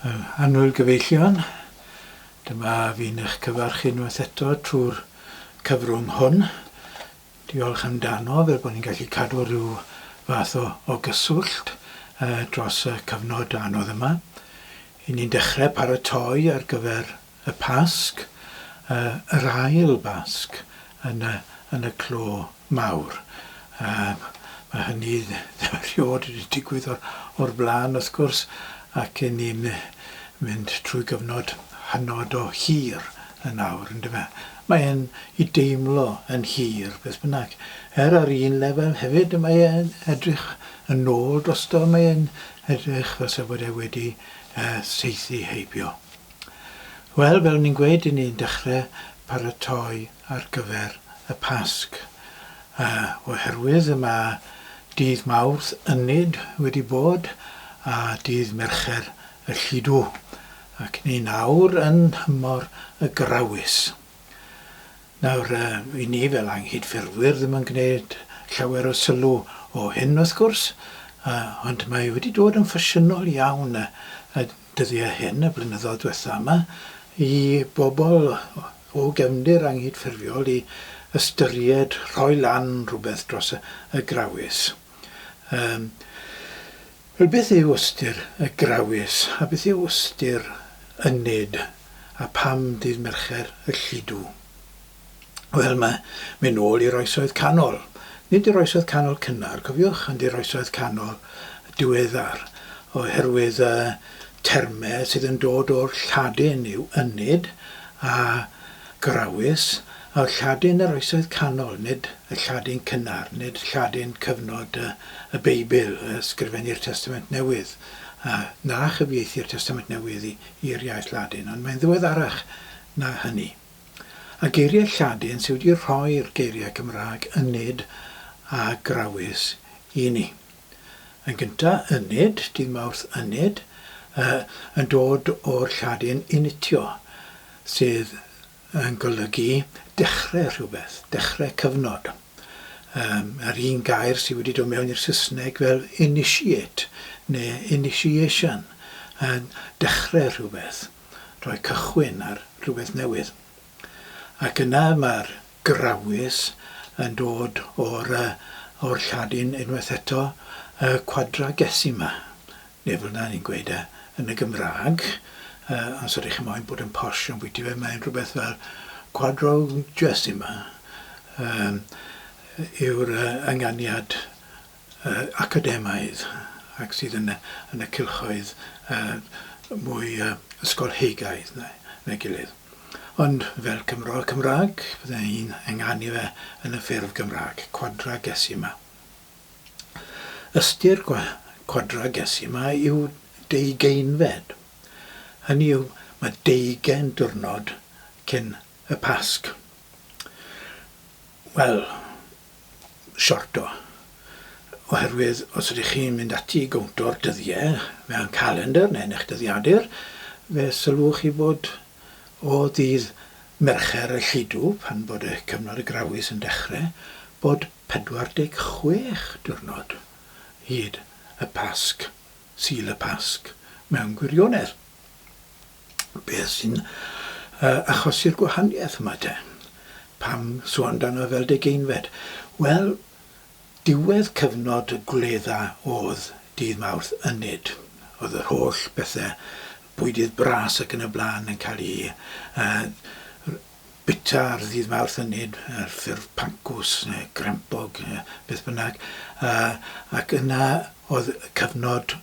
Yr Annwyl Gyfeillion, dyma fi'n eich cyfarch chi unwaith eto trwy'r cyfrwng hwn. Diolch amdano fel bod ni'n gallu cadw rhyw fath o, o gyswllt uh, dros y cyfnod anodd yma. I ni'n dechrau paratoi ar gyfer Y Pasg, yr ail Basg yn y yn y clo mawr. Yym ma' hynny ddim eriôd wedi digwydd o'r o'r bla'n wrth gwrs ac 'yn ni'n mynd trwy gyfnod hynod o hir yn awr yndyfe? Mae e'n i deimlo yn hir beth bynnag. Er ar un lefel hefyd y mae e'n edrych yn ôl drosto mae e'n edrych fel 'sa bod e wedi yy saethu heibio. Wel, fel o'n i'n gweud, 'yn ni'n dechre paratoi ar gyfer y Pasg. A oherwydd y mae dydd Mawrth ynyd wedi bod a dydd Mercher y Lludw, ac 'yn ni'n awr yn nhymor y Grawys. Nawr, wy ni fel anghydffurfwyr ddim yn gwneud llawer o sylw o hyn, wrth gwrs, ond mae wedi dod yn ffasiynol iawn y dyddiau hyn, y blynyddoedd diwetha' yma, i bobl o gefndir anghydffurfiol i ystyried rhoi lan rhywbeth dros y Grawys. Yym. Wel, beth yw ystyr y Grawys, a beth yw ystyr y Nid, a pham Dydd Mercher y Lludw? Wel, mae'n mynd nôl i'r Oesoedd Canol. Nid yr Oesoedd Canol cynnar, cofiwch, ond i'r Oesoedd Canol diweddar, oherwydd y termau sydd yn dod o'r Lladin yw ynid a Grawys, a Lladin yr Oesoedd Canol, nid y Lladin cynnar, nid Lladin cyfnod y Beibl, a ysgrifennir Testament Newydd, a na chyfieithir Testament Newydd i'r iaith Ladin, ond mae'n ddiweddarach na hynny. A geiriau Lladin sy wedi rhoi'r geiriau Cymraeg yn nid a Grawys i ni. Yn gynta, yned, dydd Mawrth yned, y, yn dod o'r Lladin initio, sydd yn golygu dechrau rhywbeth, dechrau cyfnod. Yym, yr un gair sydd wedi dod mewn i'r Saesneg fel initiate neu initiation, yn dechrau rhywbeth, rhoi cychwyn ar rhywbeth newydd. Ac yna mae'r Grawys yn dod o'r yy o'r Lladin unwaith eto, y Quadragesima, neu fel 'na ni'n gweud e yn y Gymraeg, yy os ydych chi moyn bod yn posh ambwyty fe, mae'n rhywbeth fel Quadrogesima yym yw'r yy ynganiad academaidd ac sydd yn yn y cylchoedd yy mwy yy ysgolheigaidd na na'i gilydd. Ond fel Cymro Cymraeg fydde i'n ynganu fe yn y ffurf Gymraeg, quadragesima. Ystyr gwa- quadragesima yw deugeinfed. Hynny yw, mae deugen diwrnod cyn y Pasg. Wel, sorto, oherwydd os ydych chi'n mynd ati i gownto'r dyddiau mewn calendr neu yn eich dyddiadur, fe sylwch chi fod o ddydd Mercher y Lludw, pan fod y cyfnod y Grawys yn dechrau, bod 46 diwrnod hyd y Pasg, Sul y Pasg, mewn gwirionedd. beth sy'n achosi'r gwahaniaeth yma te? Pam sôn amdano fe fel degeinfed? Wel, diwedd cyfnod y gwledda oedd dydd Mawrth ynyd. Oedd yr holl bethe, bwydydd bras ac yn y blaen yn cael eu bwyta ar ddydd Mawrth ynyd, ar ffurf pancws neu grempog, beth bynnag. Ac yna oedd cyfnod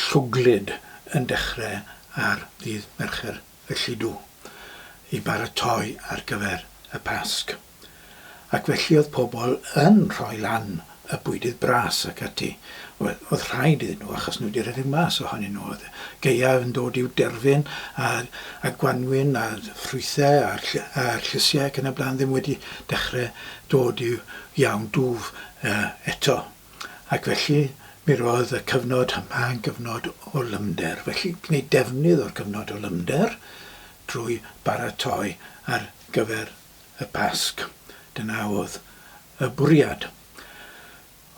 Llwglyd yn dechrau ar ddydd Mercher felly dw i baratoi ar gyfer y Pasg. Ac felly oedd pobl yn rhoi lan y bwydydd bras ac ati. Wel, oedd rhaid iddyn nhw achos nhw wedi rhedeg mas ohonyn nhw. Oedd gaeaf yn dod i'w derfyn a a gwanwyn a ffrwythau a'r ll- a llysiau ac yn y blaen ddim wedi dechrau dod i'w iawn dwf yy eto. Ac felly, mi roedd y cyfnod yma yn gyfnod o lymder. Felly, gwneud defnydd o'r cyfnod o lymder drwy baratoi ar gyfer y Pasg. Dyna oedd y bwriad.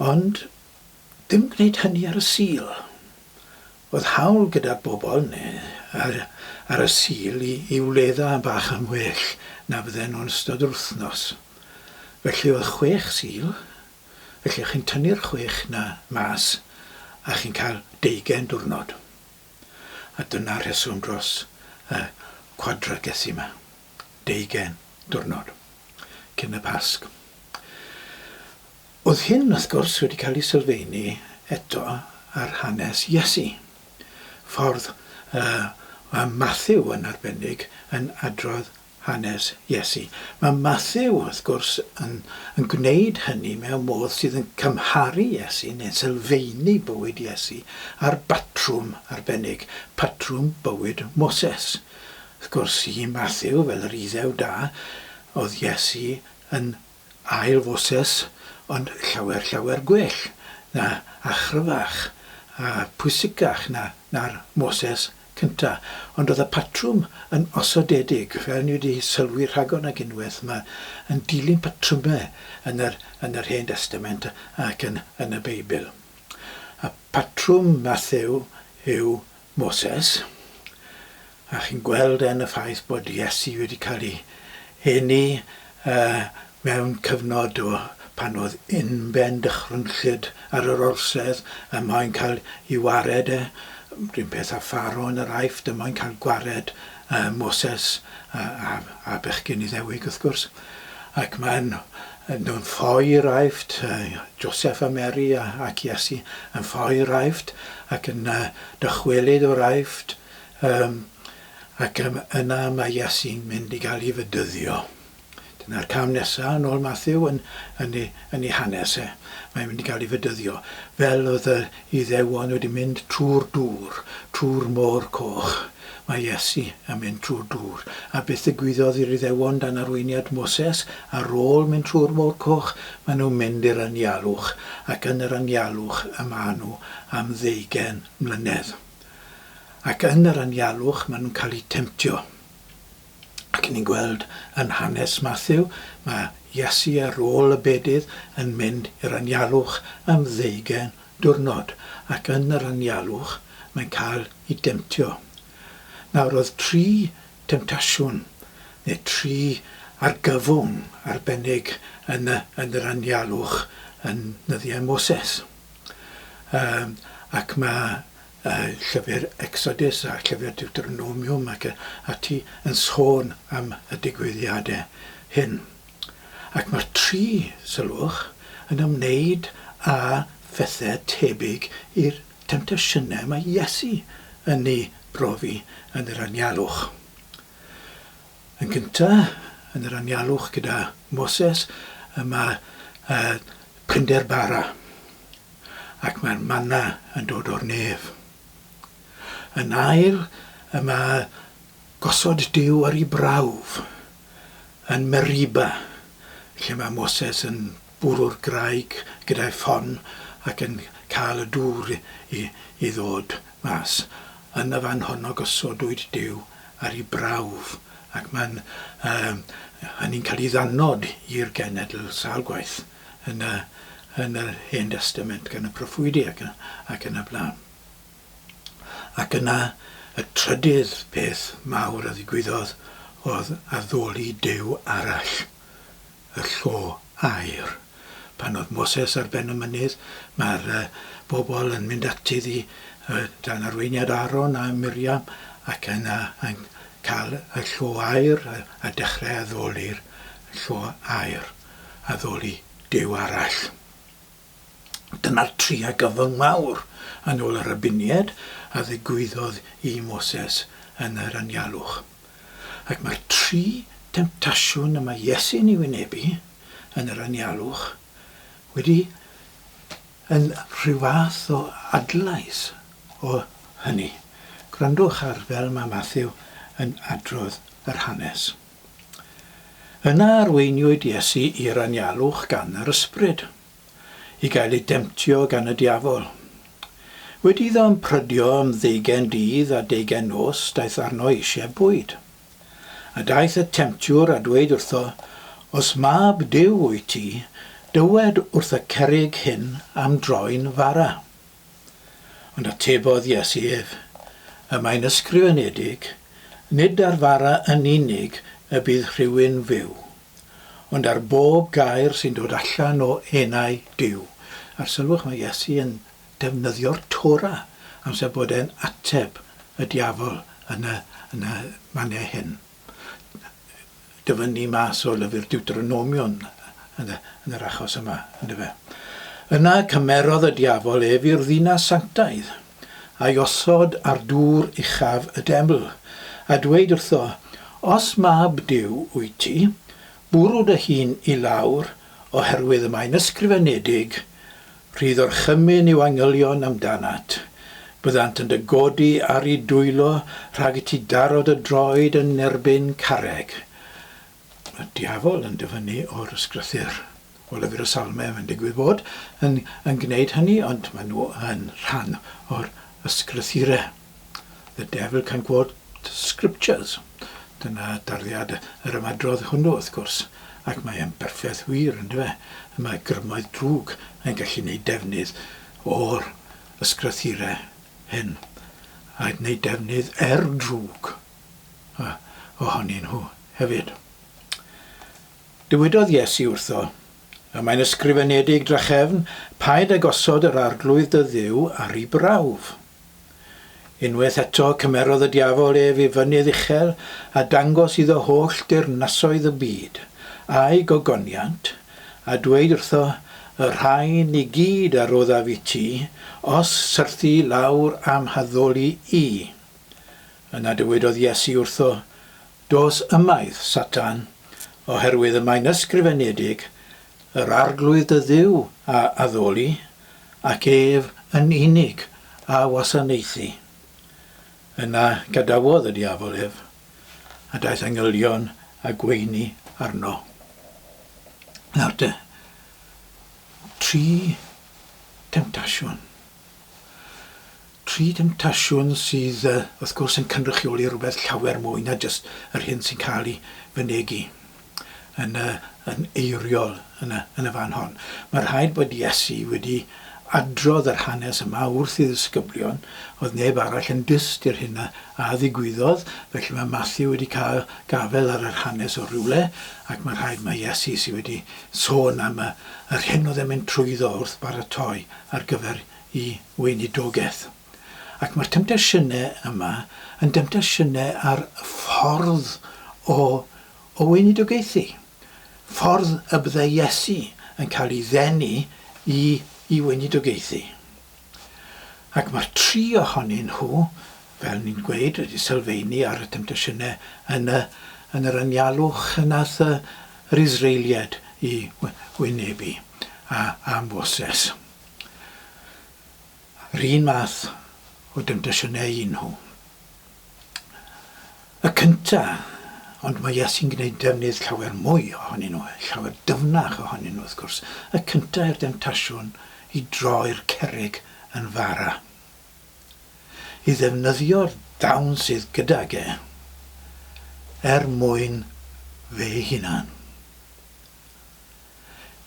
Ond, dim gwneud hynny ar y Sul. Oedd hawl gyda'r bobl, neu ar, ar y Sul, i, i wledda bach yn well na fydden nhw'n ystod yr wythnos. Felly oedd chwech Sul, Felly chi'n tynnu'r chwech 'na mas a chi'n cael deugain diwrnod. A dyna'r rheswm dros y quadragesi 'ma. Deugain diwrnod cyn y Pasg. Oedd hyn, wrth gwrs, wedi cael ei sylfeini eto ar hanes Iesu. Ffordd y mae Mathew yn arbennig yn adrodd hanes Iesu. Mae Mathew, wrth gwrs, yn yn gwneud hynny mewn modd sydd yn cymharu Iesu, neu'n sylfaenu bywyd Iesu, â'r batrwm arbennig, patrwm bywyd Moses. Wrth gwrs, i Mathew, fel yr Iddew da, oedd Iesu yn ail Foses, ond llawer, llawer gwell na, a chryfach, a phwysicach na, na'r Moses cyntaf, ond oedd y patrwm yn osodedig, fel ni wedi sylwi rhagor nag unwaith, mae yn dilyn patrymau yn yr yn yr Hen Destament ac yn yn y Beibl. A patrwm Mathew yw Moses, a chi'n gweld e yn y ffaith bod Iesu wedi cael ei eni yy Mewn cyfnod o pan oedd unben dychrynllyd ar yr orsedd er mwyn cael i wared e, run peth â Pharo yn yr Aifft er mwyn cael gwared Moses a bechgyn Iddewig wrth gwrs, ac maen nhw'n ffoi i'r Aifft, Joseff a Mary ac Iesu yn ffoi i'r Aifft ac yn dychwelyd o'r Aifft, ac yna mae Iesu'n mynd i gael ei fedyddio. Dyna'r cam nesa' yn ôl Matthew yn yn ei yn ei hanes e. Mae'n mynd i gael ei fedyddio, fel oedd yr Iddewon wedi mynd trwy'r dŵr, trwy'r Môr Coch. Mae Iesu yn mynd trwy'r dŵr. A beth ddigwyddodd i'r Iddewon dan arweiniad Moses? Ar ôl mynd trwy'r Môr Coch, maen nhw'n mynd i'r anialwch, ac yn yr anialwch y maen nhw am ddeugain mlynedd. Ac yn yr anialwch maen nhw'n cael eu temtio. ac yn ni'n gweld yn hanes Mathew, mae Iesu ar ôl y bedydd yn mynd i'r anialwch am ddeugain diwrnod, ac yn yr anialwch mae'n cael i demtio. Nawr oedd tri temtasiwn, neu tri argyfwng arbennig yn y yn yr anialwch yn nyddiau Moses. Yym ac mae y llyfr Exodus a'r llyfr Deuteronomium ac yn ati yn sôn am y digwyddiadau hyn. Ac mae'r tri salwch yn ymwneud â phethau tebyg i'r temtasiynau mae Iesu yn eu brofi yn yr anialwch. Yn gyntaf, yn yr anialwch gyda Moses, y mae y prinder bara, ac mae'r manna yn dod o'r nef. Yn ail, y mae gosod Duw ar ei brawf yn Meriba, lle mae Moses yn bwrw'r graig gyda'i phon ac yn cael y dŵr i i ddod mas. Yn y fan honno gosodwyd Duw ar ei brawf ac mae'n yym hynny'n cael ei ddanfod i'r genedl sawl gwaith yn y yn yr Hen Destament gan y proffwydi ac yn ac yn y blaen. Ac yna y trydydd peth mawr a ddigwyddodd oedd addoli Duw arall. y llo aer. Pan oedd Moses ar ben y mynydd, mae'r bobl yn mynd ati iddi dan arweiniad Aaron a Miriam ac yna yn cael y llo aer a dechrau addoli'r llo aer, addoli Duw arall. Dyna'r triau gyfyng mawr yn ôl yr addunied a ddigwyddodd i Moses yn yr anialwch. Ac mae'r tri demtasiwn y mae Iesu'n ei wynebu yn yr anialwch wedi yn rhyw fath o adlais o hynny. Gwrandwch ar fel mae Mathew yn adrodd yr hanes. Yna arweiniwyd Iesu i'r anialwch gan yr ysbryd, i gael ei demtio gan y diafol. Wedi iddo ymprydio am ddeugain dydd a deugain nos daeth arno eisiau bwyd. A daeth y temtiwr a dweud wrtho, Os mab Duw wyt ti, dywed wrth y cerrig hyn am droi'n fara. Ond atebodd Iesu ef, Y mae'n ysgrifenedig, Nid ar fara yn unig y bydd rhywun fyw, ond ar bob gair sy'n dod allan o enau Duw. A'r sylwch, mae Iesu yn defnyddio'r Torah amser bod e'n ateb y diafol yn y yn y maniau hyn. dyfynnu mas o lyfr Diwtronomion yn yn yr achos yma, yndyfe? Yna cymerodd y diafol ef i'r ddinas sanctaidd, a'i osod ar dŵr uchaf y deml, a dweud wrtho, Os mab Duw wyt ti, bwrw dy hun i lawr, oherwydd y mae'n ysgrifenedig, Rhydd orchymyn yw angylion amdanat. Byddant yn dy godi ar i dwylo rhag i ti daro dy droed yn erbyn carreg. Y diafol yn dyfynnu o'r ysgrythyr. O lyfr y Salmau mae'n digwydd fod yn yn gneud hynny ond maen nhw yn rhan o'r ysgrythyre. The devil can quote scriptures, dyna darddiad yr ymadrodd hwnnw, wrth gwrs, ac mae e'n berffaith wir, yndyw e? Y mae grymoedd drwg yn gallu neud defnydd o'r ysgrythire hyn, a gneud defnydd er drwg o, ohonyn nhw hefyd. Dywedodd Iesu wrtho, a mae'n ysgrifenedig drachefn, Paid a gosod yr arglwydd dy Dduw ar 'i brawf. Unwaith eto cymerodd y diafol ef i fynydd uchel a dangos iddo holl deyrnasoedd y byd, a'i gogoniant, a dweud wrtho, Y rhain i gyd a roddaf i ti, os syrthi lawr a'm haddoli i. Yna dywedodd Iesu wrtho, Does ymaith, Satan, oherwydd y mae'n ysgrifenedig, Yr Arglwydd dy Dduw a addoli, ac ef yn unig a wasanaethi. Yna gadawodd y diafol ef, a daeth angylion a gweini arno. Nawr te, tri temtasiwn. Tri demtasiwn sydd, wrth gwrs, yn cynrychioli rhywbeth llawer mwy na jyst yr hyn sy'n cael ei fynegi yn, yn eiriol yn y, yn y fan hon. Mae rhaid bod Iesu wedi adrodd yr hanes yma wrth ei ddisgyblion, oedd neb arall yn dyst i'r hyn a, a ddigwyddodd, felly mae Matthew wedi cael gafel ar yr hanes o rywle, ac mae rhaid mae Iesu sydd wedi sôn am y, yr hyn oedd e'n mynd trwyddo wrth baratoi ar gyfer y weinidogaeth. Ac mae'r temtasiynau yma yn demtasiynau ar ffordd o o weinidogaethu, ffordd y byddai Iesu yn cael ei ddenu i i weinidogaethu. Ac mae'r tri ohonyn nhw, fel ni'n gweud, wedi sylfaenu ar y temtasiynau yn y yn yr anialwch y nath yr Israeliad i wynebu. a amhoses. Yr un math o demtasiynau i nhw. Y cynta, ond mae Iesu'n gwneud defnydd llawer mwy ohonyn nhw, llawer dyfnach ohonyn nhw wrth gwrs. Y cynta yw'r demtasiwn i droi'r cerrig yn fara. I ddefnyddio'r dawn sydd gydag e er mwyn fe'i hunan.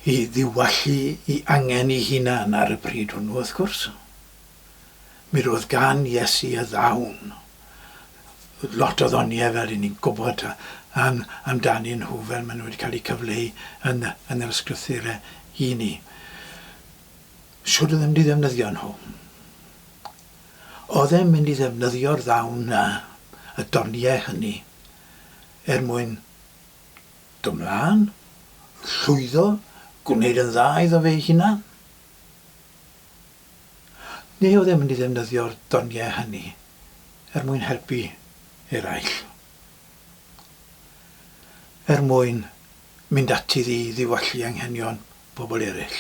i ddiwallu i angen i hunan ar y pryd hwnnw wrth gwrs. Mi roedd gan Iesu y ddawn lot o ddoniau fel i ni'n gwybod am, amdanyn nhw fel maen nhw wedi cael eu cyfleu yn, yn yr ysgrythurau i ni. Siwr oedd yn mynd i ddefnyddio nhw. Oedd e'n mynd i ddefnyddio'r ddawn na, y doniau hynny, er mwyn Dy mlan, yn llwyddo gwneud yn dda iddo fe'i hunan? Neu oedd e'n mynd i ddefnyddio'r doniau hynny er mwyn helpu eraill? Er mwyn mynd ati i ddiwallu anghenion pobl eraill?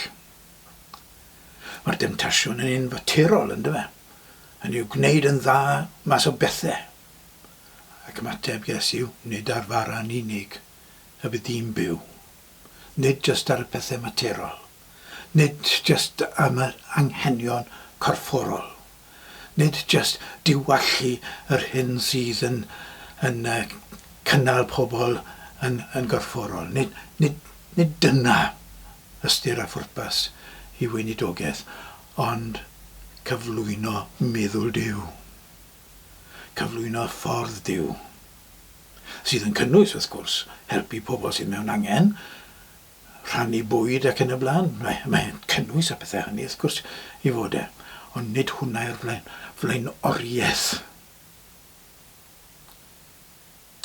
Mae'r demtasiwn yn un faterol, yn dyfe? Hynny yw, gwneud yn dda mas o bethau. Ac ymateb Iesu yw, Nid ar fara yn unig y bydd dyn byw. Nid jyst ar y pethau materol. Nid jyst am yr anghenion corfforol. Nid jyst diwallu yr hyn sydd yn yn cynnal pobl yn yn gorfforol. Nid nid nid dyna ystyr a phwrpas ei weinidogaeth, ond cyflwyno meddwl Duw. cyflwyno ffordd Duw, sydd yn cynnwys, wrth gwrs, helpu pobl sydd mewn angen, rhannu bwyd ac yn y blaen. Mae, mae'n cynnwys a pethau hynny, wrth gwrs, i fod e. Ond nid hwnna yw'r flaen, flaenoriaeth.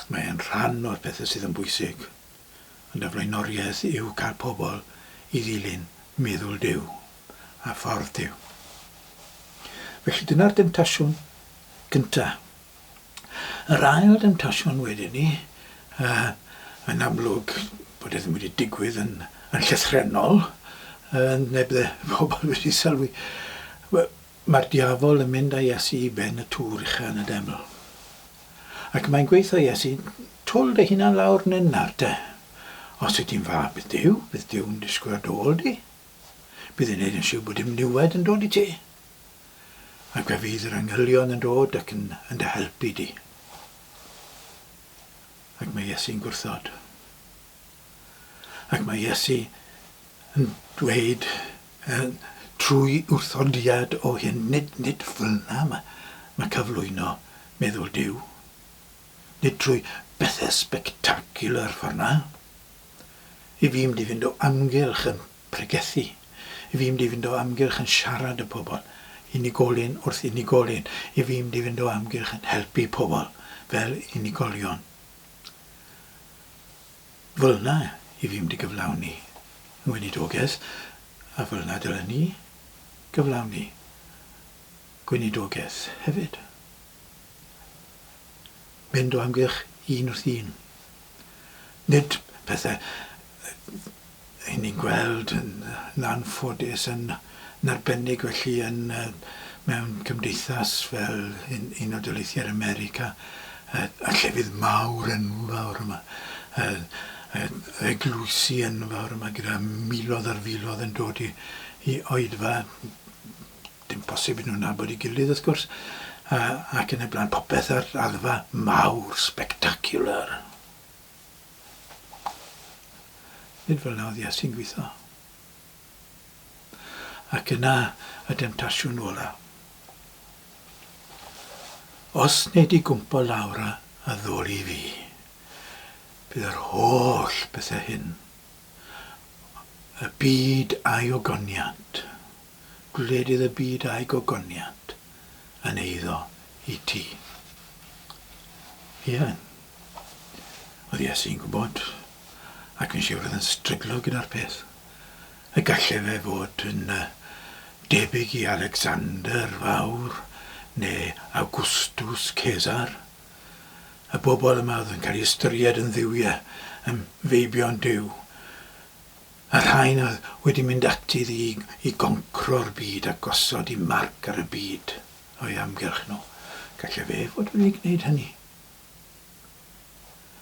Mae e'n rhan o'r pethau sydd yn bwysig yn dy flaenoriaeth yw cael pobl i ddilyn meddwl Duw a ffordd Duw. Felly dyna'r demtasiwn gyntaf. Yr ail demtasiwn wedyn ni, uh, yn amlwg bod e ddim wedi digwydd yn, yn llythrenol, uh, neb dde pobl wedi sylwi. Mae'r diafol yn mynd â Iesu i ben y tŵr ucha yn y deml. Ac mae'n gweutho Iesu, Twl dy hunan lawr nen nawr te. Os wyt ti'n fab y Duw, bydd Duw'n disgwyl ar dy ôl di. Bydd e'n neud yn siwr bod dim niwed yn dod i ti. Ac fe fydd yr angylion yn dod ac yn yn dy helpu di. Ac mae Iesu'n gwrthod. Ac mae Iesu yn dweud trwy wrthodiad o hyn, nid, nid felna mae, mae cyflwyno meddwl Duw. Nid trwy bethau spectacular forna. I fi mynd i fynd o amgylch yn pregethu. I fi mynd i fynd o amgylch yn siarad y pobl. Unigolyn wrth unigolyn. I fi mynd i fynd o amgylch yn helpu pobl fel unigolion. Fel 'na i fi mynd i gyflawni 'yn weinidogaeth, a fel 'na dylen ni gyflawni gweinidogaeth hefyd. Mynd o amgylch un wrth un. Nid pethe Ry'n ni'n gweld, yn anffodus, yn arbennig felly yn mewn cymdeithas fel Unol Daleithiau'r America, y llefydd mawr enfawr yma, yr eglwysi enfawr yma gyda miloedd ar filoedd yn dod i oedfa, dim posib iddyn nhw nabod ei gilydd wrth gwrs, ac yn y blaen, popeth ar raddfa mawr, spectacular. Nid fel nawdd Iesu'n gweithio. Ac yna y demtasiwn ola. Os nei di gwmpo lawr a addoli fi, bydd yr holl bethau hyn, y byd a'i ogoniant, gwledydd y byd a'i gogoniant yn eiddo i ti. Ie. Oedd Iesu'n gwybod, ac yn siwr oedd yn stryglo gyda'r peth. Y gallai fe fod yn debyg i Alexander Fawr neu Awgwstws Cesar. Y bobl yma oedd yn cael ei ystyried yn dduwiau, yn feibion Duw. Y rhain oedd wedi mynd ati iddi i goncro'r byd a gosod i marc ar y byd o'i amgylch nhw. Gallai fe fod wedi gwneud hynny.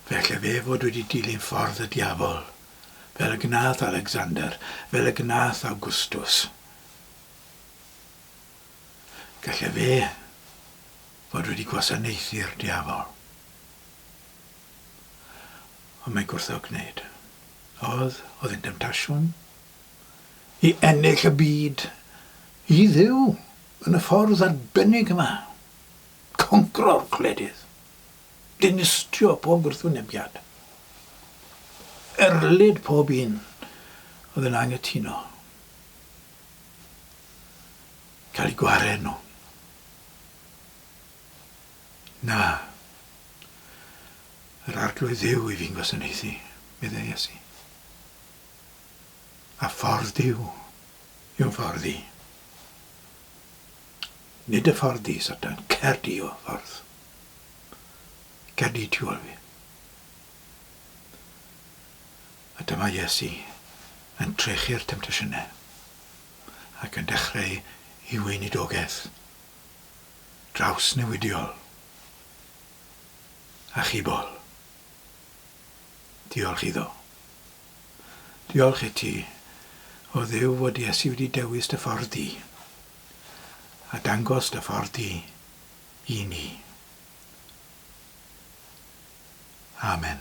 Fe allai fe fod wedi dilyn ffordd y diafol, fel y gwnaeth Alecsander, fel y gwnaeth Awgwstws. Gallai fe fod wedi gwasanaethu'r diafol. Ond mae gwrthod gwneud. Oedd, oedd yn demtasiwn i ennill y byd, i fyw yn y ffordd arbennig yma, congro'r gwledydd, dinistrio pob gwrthwynebiad, erlid pob un oedd yn anghytuno, cael eu gwared nhw. Na. Yr Arglwydd Dduw i fi'n gwasanaethu, meddai Iesu. A ffordd Duw yw ffordd i. Nid y ffordd di, Satan. Cer di o ffordd. Cer di tu ôl fi. A dyma Iesu yn trechu'r temtasiynau ac yn dechrau i weinidogaeth. drawsnewidiol, achubol. Diolch iddo. Diolch i ti, o Dduw, fod Iesu wedi dewis dy ffordd di, a dangos dy ffordd di i ni. Amen.